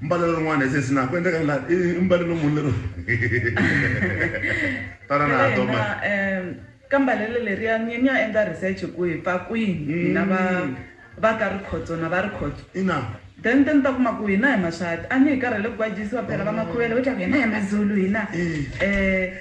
mbalelo rin'wana hi sesi na ku endleka la i mbalelo munhu lero tana na ha toma ka mbalelo leriya ni ni ya endla research ku hi pfa kwihi hina va mm. va ka rikhotso na va rikhotso ina then te ni ta kuma ku hina hi maswati a ni hi karhele ku kwajisiwa phela va makhuvele vo tlaku hina hi mazulu hina um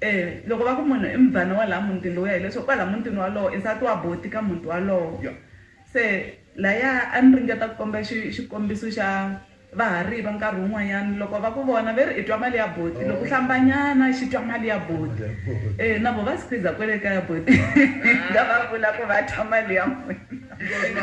E Loko va ku munhu i mubvana wa laha mutini lowuya, hileswaku kwalaha mutini wolowo i nsati wa buti ka muti wolowo. Se lahaya a ni ringeta ku komba xi xikombiso xa vahariva nkarhi wun'wanyana loko va ku vona ve ri i twa mali ya buti loko hlambanyana xi twa mali ya buti e na vo va squeezer kwele kaya buti va va vula ku va twa mali ya n'wina.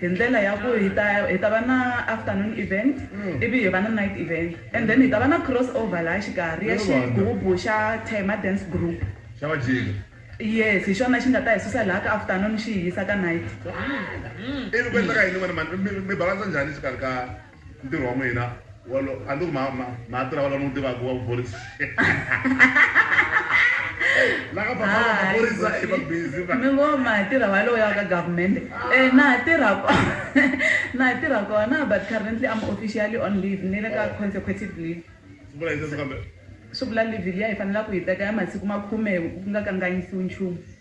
Hi ndlela ya ku hi ta hi ta va na afternoon event ivi hi va na night event and then hi ta va na cross over laha xikarhi ya xigubu xa Thema Dance Group. Xa Majika. Yes, hi xona xi nga ta hi susa laha ka afternoon xi hi yisa ka night. Ivi ku endleka yini n'wina mhani? Mi mi balance njhani exikarhi ka. Ntirho wa n'wina walo a ni ku ma ma ma tirha walo ni wu tivaka wa vuphorisa. La ka papa wa maphorisa i va busy va. Ni ngo ma tirha walowo ya ka government. Eh na ha tirha kona na ha tirha kona but currently I'm officially on leave ni le ka consecutive leave. Swi vula yini sweswo kambe? Swi vula leave liya hi fanelaka ku yi teka ya masiku makhume ku nga kanganyisiwi nchumu.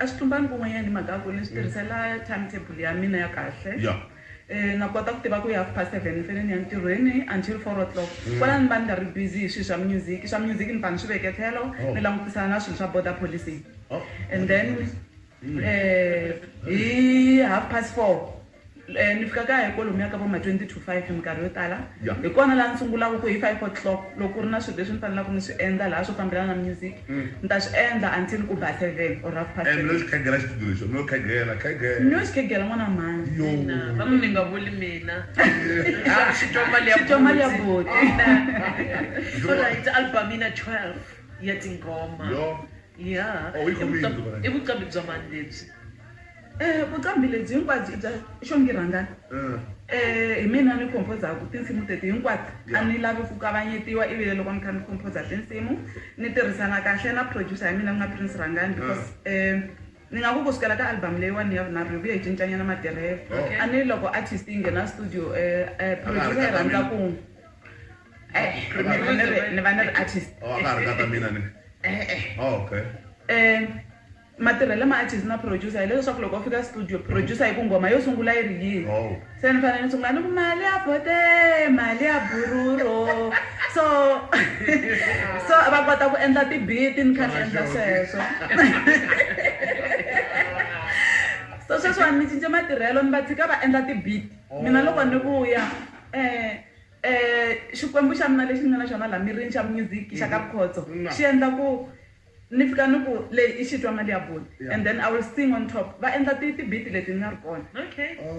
A swi tlumbangi kun'wanyana hi mhaka ya ku ni swi tirhisela time table ya mina ya kahle. Na kota ku tiva ku hi half past seven ni fanele ni ya ntirhweni until four o'clock. Kwalano ni va ni nga ri busy hi swilo swa music. Swa music ni pfa ni swi veke tlhelo ni langutisana na swilo swa border policing and then hi half past four. Eh, ni fika kaya hi kwalomu ya ka vo ma 20 to 5 minkarhi yo tala yeah. hi kona laha ni sungulaka ku hi 5 o'clock loko ku ri na swilo leswi ni fanelaka ni swi endla laha swo fambelana na music mm. ni ta swi endla until ku ba seven or half past eh, seven khegela xitudio lexo no khegela khegela no xi khegela n'wana mhani yo va ku ni nga vuli mina xi twa mali ya xi twa mali ya boti all right album ina 12 ya tingoma yeah oh, i vuqambi bya mani lebyi Eh, vuqambhi lebyi hinkwabyo i bya xongi rhangani um eh, hi mina ni khomphozaku tinsimu teti hinkwato a ni lavi ku kavanyetiwa ivile loko ni kha ni khomphoza tinsimu ni tirhisana kahle na producer ya mina ku nga prince rhangani because um ni nga ku ku sukela ka album leyiwani ya vunharhu hi vuye hi cincanyana matirhelo a ni loko artist yi nghena studio um producer yi rhandza ku ni va ni ri artist e-e um Matirhele ma artist na producer hi leswaku loko u fika studio producer yi ku nghoma yo sungula yi ri yini oh. se ni fanele ni sungula ni ku mali ya bote mali ya bururo so so va kota ku endla tibiti ni kha ni endla sweswo so sweswiwani ni cince matirhelo ni va tshika va endla tibiti mina loko ni vuya um um xikwembu xa mina lexi ni nga na xona laha mirini xa music xa ka mm-hmm. khotso xi endla ku Ni fika ni ku leyi i xitwa mali ya bulu and then I will sing on top va endla ti ti beat leti ni nga ri kona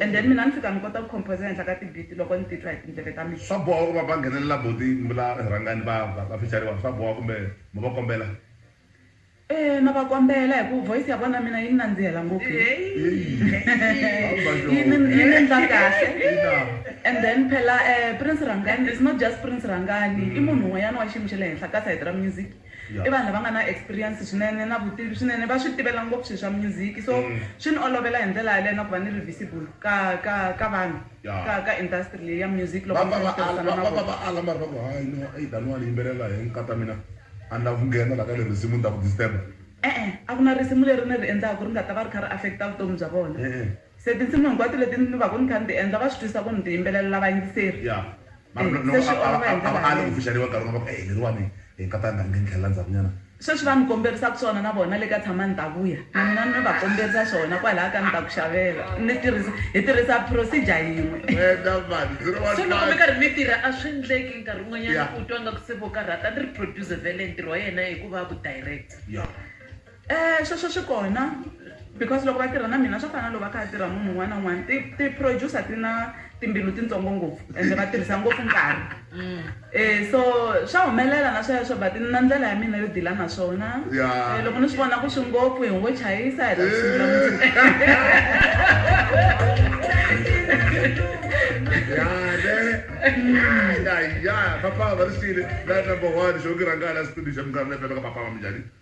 and then mina ni fika ni kota ku composer ehenhla ka ti beat loko ni titwa hi tindleve ta mina. Swa boha ku va va nghenelela buti Mbula rhangani va va va fecariwa swa boha kumbe mo va kombela? Eeh na va kombela hi ku voice ya vona mina yi ni nandzihela ngopfu yi yi ni yi ni endla kahle and then phela Prince Rhangani is not just Prince Rhangani i munhu un'wanyana wa xiyimo xa le henhla ka side ra music. i vanhu lava nga na experience swinene na vutivi swinene va swi tivela ngopfu swilo swa music so mm. swi ni olovela hi ndlela yaleyo na ku va ni revisible ka ka ka vanhu ka ka industry leyi ya music loko va ala mari va ku hayi no eyi daniwani yimbelela hi nkata mina a ni lavi ku nghena la ka le risimu ni ta ku disturba e-e a ku na risimu leri ni ri endlaku ri nga ta va ri kha ri affecta vutomi bya vona Se tinsimu hinkwato leti ni vaku ni kha ni ti endla va swi twisisa ku ni ti yimbelelela vayingiseri? Ya. Mara no, no, Se swi a, a, olova hi a, a ndlela va ali ku yaleyo. pfuxeriwa nkarhi wun'we va ku, Eyi leriwani hi nga ta ni rhanga ni tlhelela ndzhaku nyana. Sweswi va ni komberisaka swona na vona le ka Tshama Ni Ta Vuya, na mina ni va komberisa swona kwalaya ka Ni Ta Ku Xavela. Ni tirhisa, hi tirhisa procedure yin'we. Wena mani, zero one So loko mi five. karhi mi tirha a swi ndleki nkarhi wun'wanyana Ya. u twa ngaku se vo karhata ni ri producer vele ntirho wa yena i ku va vu director. Ya. Eh, sweswo swi kona because loko va tirha na mina swa fana na loko va kha va tirha munhu un'wana na un'wana ti-producer ti na timbilu tintsongo ngopfu ende va tirhisa ngopfu nkarhi um so swa humelela na sweswo but ni na ndlela ya mina yo dila na swona eh, loko ni swi vona ku swi ngopfu hi ngo chayisa hi ya papa va ri sile la number one xo ki rhangana xitudio xa minkarhi leyi pepeka papa va minjhani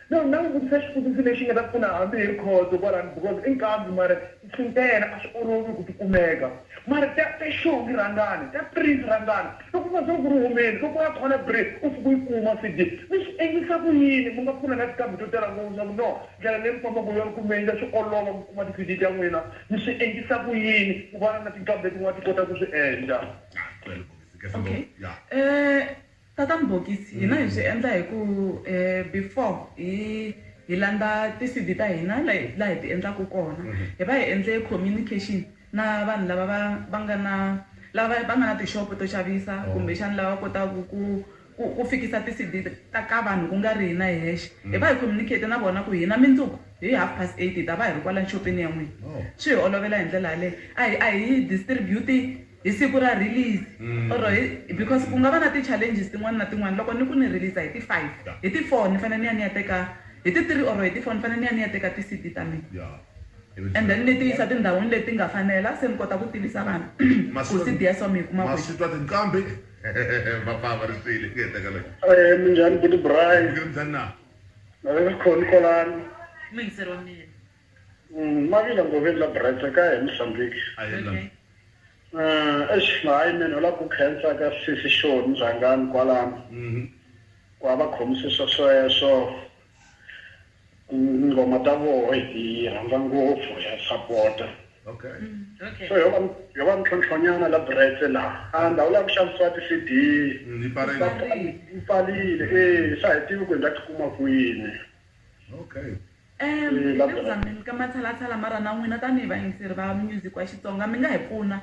No, na n'wi vutisa xivutiso lexi nga ta pfuna hambi hi rikhotso kwalano because i nkambi mara i swi nta yena a swi olovi ku ti kumeka mara ta ta xongi rhangana ta print rhangana loko u nga se ku ri humeni loko u ya khona bri u fika u yi kuma CD mi swi endlisa ku yini mi nga pfuna na tinkambi to tala ngopfu swa ku no ndlela leyi mi fambaka hi yona ku mi endla swi olova ku kuma ti CD ta n'wina mi swi endlisa ku yini ku vana na tinkambi letin'wana ti kota ku swi endla. Ngicela ukuzwisisa kahle ngoba Okay. ya. Eh. Tata Mbhokisi, hina hi swi endla hi ku before hi hi landza ti C_V ta hina laha hi ti endlaka kona hi va hi endle communication na vanhu lava va va nga na lava va nga na tixopo to xavisa kumbexana lava kotaka ku ku ku fikisa ti C_V ta ka vanhu ku nga ri hina hi hexe hi va hi communicate na vona ku hina mindzuku hi half past eight hi ta va hi ri kwalani xopeni ya n'wina swi hi olovela hi ndlela yaleyo a hi a hi distribute. Hi siku ra release or hi because ku nga va na ti challenges tin'wana na tin'wana loko ni ku ni release hi ti five hi ti four ni fanele ni ya ni ya teka hi ti three or hi ti four ni fanele ni ya ni ya teka ti C_D ta mina and then ni ti yisa tindhawini leti nga fanela se ni kota ku tivisa vanhu ku C_D ya so mi yi kuma kwihi. Maswitwa tinqambi va pfa va ri swile ku endleka Eeh minjhani buti Braai. Ni khoni kwalano. Muyingiseri wa mina. Ma vile ngoveni la Brits kaya eMozambique. Eish hayi man u lava ku khensa ka sesi Shoni Mzhangani kwalano ku a va khomise swesweswo tinghoma ta voho hi ti rhandza ngopfu ha sapota so yo va yo va mintlhontlho nyana la Brits la a ndhawu la ku xavisiwa ti CD yi pfarile e se a hi tivi ku hi nga ti kuma kwini. Hi le ku zameni ka matshalatshala ma ra na n'wina tanihi vayingiseri va music wa Xitsonga mi nga hi pfuna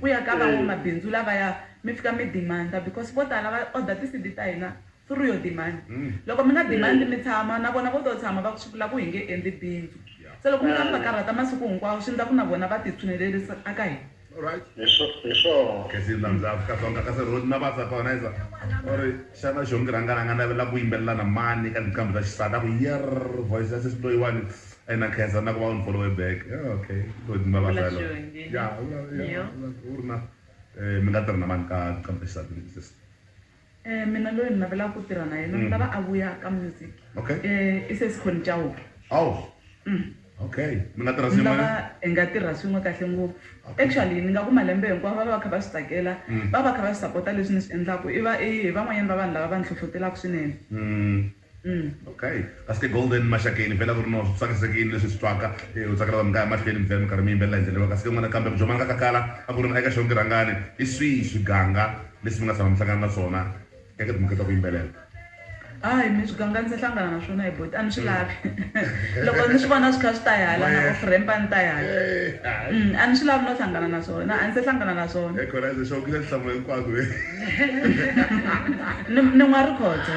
ku ya ka van'wamabindzu lavaya mi fika mi demand-a because vo tala va order ti CD ta hina through yo demand loko mi nga demand mi tshama na vona vo to tshama va ku swi vula ku hi nge endli bindzu se loko mi kha mi va karhata masiku hinkwawo swi ndla ku na vona va ti tshunelerisa a ka hina. Alright. Hi swo, hi swona. Ke swi landza Afrika-Dzonga kasi Rhodi na Vaza ka wena Eza u ri xana Xongi Rhangani a nga navela ku yimbelela na mani eka tinqambi ta xisati a ku yerr voice ya sesi loyiwani a yi na nkhensa na ku va u ni follow-we back ya ok Rhodi ni Vavaza Vula yaloye Xongi ya u ri na eh mi nga tirha na mani ka tinqambi ta xisati leti sesi. Eh mina loyi ni navelaka ku tirha na yena ni lava a vuya ka music Okay. eh i sesi Connie Chauke Oh. Okay. Mi nga tirha ni swin'we. lava hi nga tirha swin'we kahle ngopfu actually ni nga ku malembe hinkwawo va va va kha va swi tsakela va va kha va swi sapota leswi ni swi endlaku i va i van'wanyani va vanhu lava va ni hlohlotelaka swinene Mm. Okay kahle golden maxakeni vhela ku ri no swi tsakisekini leswi swi twaka eh, u tsakela vanhu kaya mahlweni mi vhela mi karhi mi yimbelela hi ndlela leyi kahle n'wana kambe ku jomana ka kakala a ku ri na eka xonki rhangani i swihi swiganga leswi mi nga tshama mi hlangana na swona eka timhaka ta ku yimbelela hayi mi swiganga ndzi hlangana na swona hi boti a ni swi mm. lavi loko ni swi vona swi kha swi ta hala na ofrempa ni ta hala mm, a ni swi lavi no hlangana na swona a ni se hlangana na swona ni n'wa ri khotsa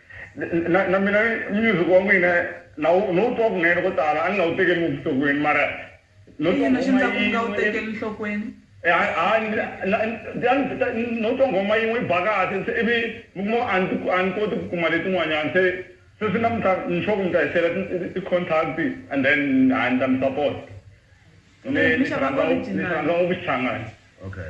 Na, na mina music wa n'wina na wu, no wu twa kunene ko tala, a ni nga wu tekeli ngopfu nhlokweni mara no twa nghoma yin'we. I yini lexi endlaka ku mi nga wu tekeli nhlokweni? No twa nghoma yin'we yi ba kahle se ivi mi kuma ku a ni, a ni koti ku kuma letin'wanyana se sweswi namuntlha ni sure ku mi ta hi share-la ti, ti contact and then ha ni ta mi support. Ni, ni xi rhandza, ni xi rhandza ngopfu Xichangani. Okay.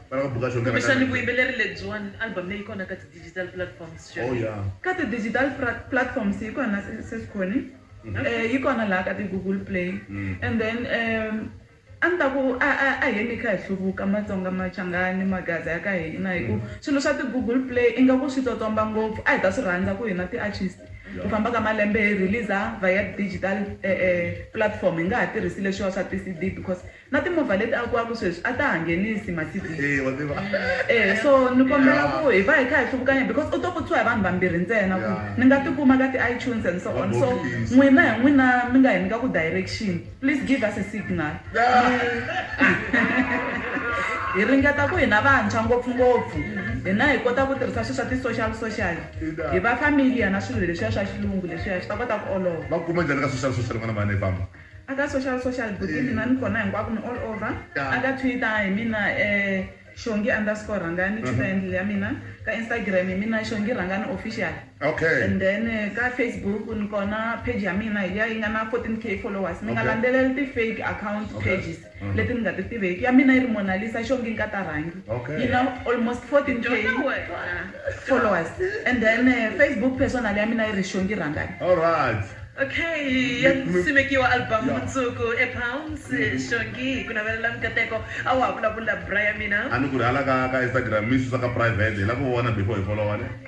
Kumbexani vuyimbeleri lebyiwani album leyi kona ka ti digital platforms xana? Ka ti digital platforms yi kona sis Connie yi kona laha ka ti google play and then a ni ta ku a a a heni hi kha hi hluvuka matsonga machangani magaza ya ka hina hi ku swilo swa ti google play ingaku swi tsotsomba ngopfu a hi ta swi rhandza ku hina ti artist ku famba ka malembe hi release via digital platform hi nga ha tirhisi leswiwa swa ti C_D because Na timovha leti akiwaka sweswi a ta ha nghenisi Mercedes. Eya wa tiva. Eya so ni kombela ku hi va hi kha hi hluvukanya because u to pfutshiwa hi vanhu vambirhi ntsena ku ni nga ti kuma ka ti iTunes and so on so n'wina hi n'wina mi nga hi nyika ku direction please give us a signal hi ringeta ku hina vantshwa ngopfungopfu hina hi kota ku tirhisa swilo swa ti social social hi va familiar na swilo leswiya swa xilungu leswiya swi ta kota ku olova. Va kuma njhani ka social social n'wana mhani hi famba. Aka social social buti mina ni kona hinkwako ni all over aka twitter hi mina eh shongi underscore rhangani twitter handle ya mina ka instagram hi mina shongi rhangani official Okay. and then eh, ka facebook ni kona page ya mina hi liya yi nga na 14k followers mi nga Okay. landzeleli ti fake account Okay. pages leti ni nga ti tiveki ya mina yi ri Mona Lisa xongi ni ka ta rhangi Okay. yi na almost 14 k Dyondza wena. followers and then eh, facebook personal ya mina yi ri xongi rhangani Alright. Okay, ya Mi- simekiwa album Yeah. mundzuku ePalms Shongi hi ku navelela mikateko a wa ha vulavula bra ya mina. A ni ku ri hala ka ka Instagram mi susa ka private hi la ku vona before hi follow wale.